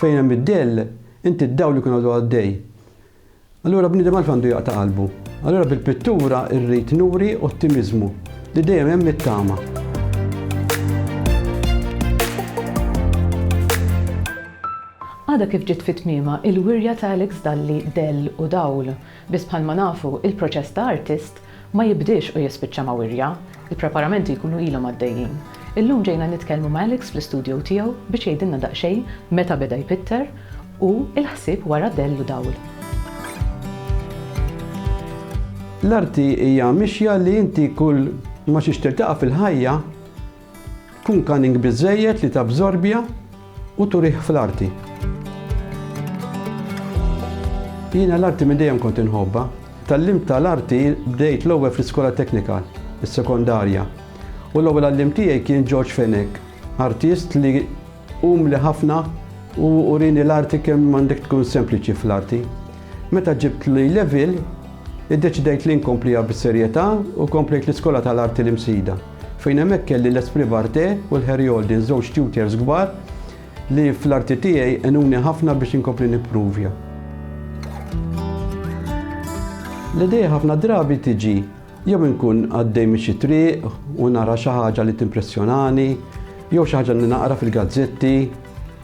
Fejn hemm id-dell, inti d-dawl ikun għadu għaddej. Allura bniedem għalf għandu jaqta' qalbu. Allura bil-pittura rrid nuri ottimiżmu li dejjem hemm it-tama. Għadha kif ġiet fi tmiemha il-wirja ta' Alex Dalli Dell u Dawl. Biss bħalma nafu, il-proċess ta' artist ma jibdiex u jispiċċa ma' wirja, il-preparamenti jkunu ilhom għaddejjin. Illum ġejna nitkellmu ma' Alex fl-istudjow tiegħu biex jgħidilna daqsxejn meta beda jpitter u l-ħsieb wara dell u dawl. L-arti hija mixja li inti kull ma xiex tiltaqa' fil-ħajja, Kun cunning biżżejjed li tabżorbja u turih fl-arti. Jiena l-arti minn dejjem kont inħobbha. Tgħallimt tal-arti bdejt l-ewwel fl-iskola teknika, is-sekondarja, u l-ewwel għalliem tiegħi kien George Fenech, artist li Umli ħafna u urieni l-arti kemm għandek tkun sempliċi fl-arti. Meta ġibt l-A-Level, iddeċidejt li nkompliha bis-serjetà u komplejt l-Iskola tal-Arti l-Imsida, fejn hemmhekk kelli l-Esprit Barthé u l-Harry Holden, żewġ tutors kbar li fl-arti tiegħi għenuni ħafna biex inkompli nippruvja. L-idea ħafna drabi tiġi Jew inkun għaddej minn xi triq u nara xi ħaġa li timpressjonani, jew xi ħaġa li naqra fil-gazzetti,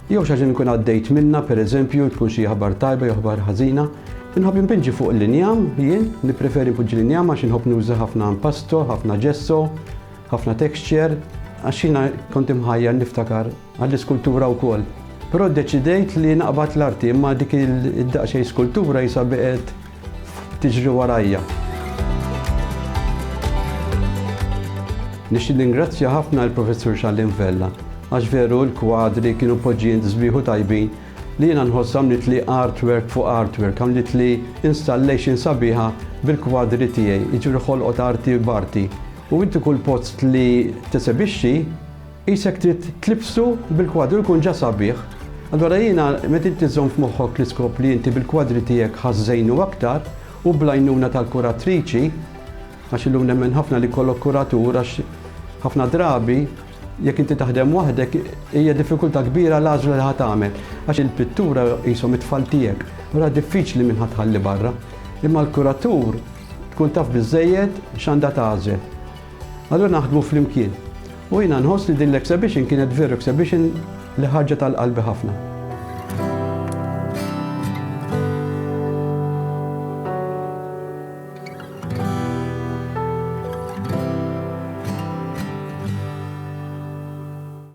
jew xi ħaġa li nkun għaddejt minnha, pereżempju, tkun xi aħbar tajba jew aħbar ħażina. Inħobb inpinġi fuq l-injam, jien, nippreferi npoġġi l-injam għax inħobb nuża ħafna impasto, ħafna ġesso, ħafna texture, għax jiena kont imħajjar niftakar għall-iskultura wkoll. Però ddeċidejt li naqbad l-arti imma dik id-daqsxejn skultura jisha beqgħet tiġri warajja. Nixtieq ningrazzja ħafna lill-Professur Xalliem Vella għax veru l-kwadri kienu mpoġġijin sbieħ u tajbin li jiena nħoss għamlitli artwork fuq artwork, għamlitli installation sabiħa bil-kwadri tiegħi, jiġifieri ħolqot arti b'arti. U inti kull post li tesebixxi, Qisek trid tlibsu bil-kwadru jkun ġa sabiħ. Allura jiena meta inti żżomm f'moħħok l-iskop li inti bil-kwadri tiegħek ħa żżejnu aktar u bl-għajnuna tal-kuratriċi, għax illum nemmen ħafna li jkollok kuratur għax ħafna drabi jekk inti taħdem waħdek hija diffikultà kbira l-għażla li ħa tagħmel għax il-pittura qishom it-tfal tiegħek, allura diffiċli min ħa tħalli barra. Imma l-kuratur tkun taf biżżejjed x'għandha tagħżel. Allura naħdmu flimkien. U jiena nħoss li din l-exhibition kienet veru exhibition li ħarġet għal qalbi ħafna.